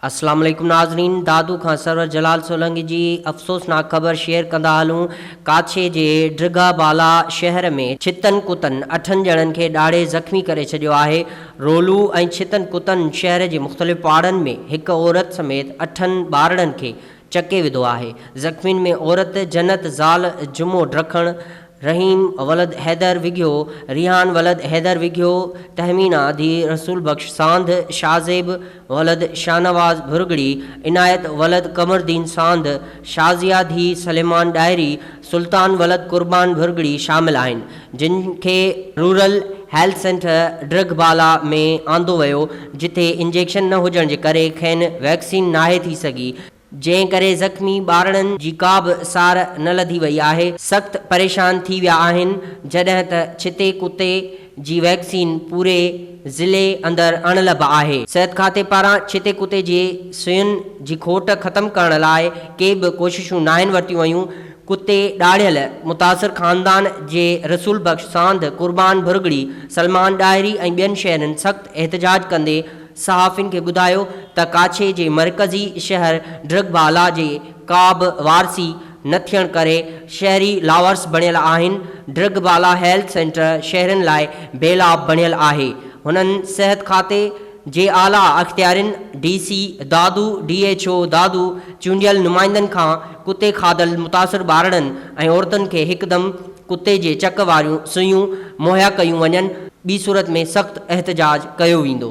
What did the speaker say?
اسلام عليڪم ناظرين دادو کان سرور جلال سولنگي جي افسوسناڪ خبر شيئر ڪندا هلون ڪاڇي جي ڊگها بالا شهر ۾ ڇتن ڪتن اٺن ڄڻن کي ڏاڙهي زخمي ڪري ڇڏيو آهي رولو ۽ ڇتن ڪتن شهر جي مختلف پاڙن ۾ هڪ عورت سميت اٺن ٻارڙن کي چڪي وڌو آهي زخمين ۾ عورت جنت زال جمعو ڊکڻ رحيم ولد حيدر وگهيو ريحان ولد حيدر وگهيو تهمينا ڌيء رسول بخش ساند شاهزيب ولد شاهنواز ڀرڳڙي، عنايت ولد قمردين ساند، شازيا ڌيء سليمان ڏاهري، سلطان ولد قربان ڀرڳڙي شامل آهن، جن کي rural health centre Drigh Bala ۾ آندو ويو، جتي انجيڪشن نه هجڻ جي ڪري کين ويڪسين ناهي ٿي سگهي. جنهن ڪري زخمي ٻارڙن جي ڪا به سار نه لڌي وئي آهي، سخت پريشان ٿي ويا آهن، جڏهن ته ڇتي ڪتي جي ويڪسين پوري ضلعي اندر اڻلڀ آهي، صحت کاتي پاران ڇتي ڪتي جي سوئين جي کوٽ ختم ڪرڻ لاء ڪي به ڪوششون ناهن ورتيون ويون، ڪتي ڏاڙهيل متاثر خاندان جي رسول بخش ساند، قربان ڀرڳڙي، سلمان ڏاهري ۽ ٻين شهرين سخت احتجاج ڪندي، صحافين کي ٻڌايو ته ڪاڇي جي مرڪزي شهر ڊرگڀالا جي ڪابه وارثي نه ٿيڻ ڪري شهري لاوارث بڻيل آهن، ڊرگڀالا هيلٿ سينٽر شهرين لاء بيلاب بڻيل آهي، هنن صحت کاتي جي اعليٰ اختيارين، D C Dadu, D H O Dadu, چونڊيل نمائندن کان ڪتي کاڌل متاثر ٻارڙن ۽ عورتن کي هڪدم ڪتي جي چڪ واريون سوئيون مهيا ڪيون وڃن، ٻي صورت ۾ سخت احتجاج ڪيو ويندو.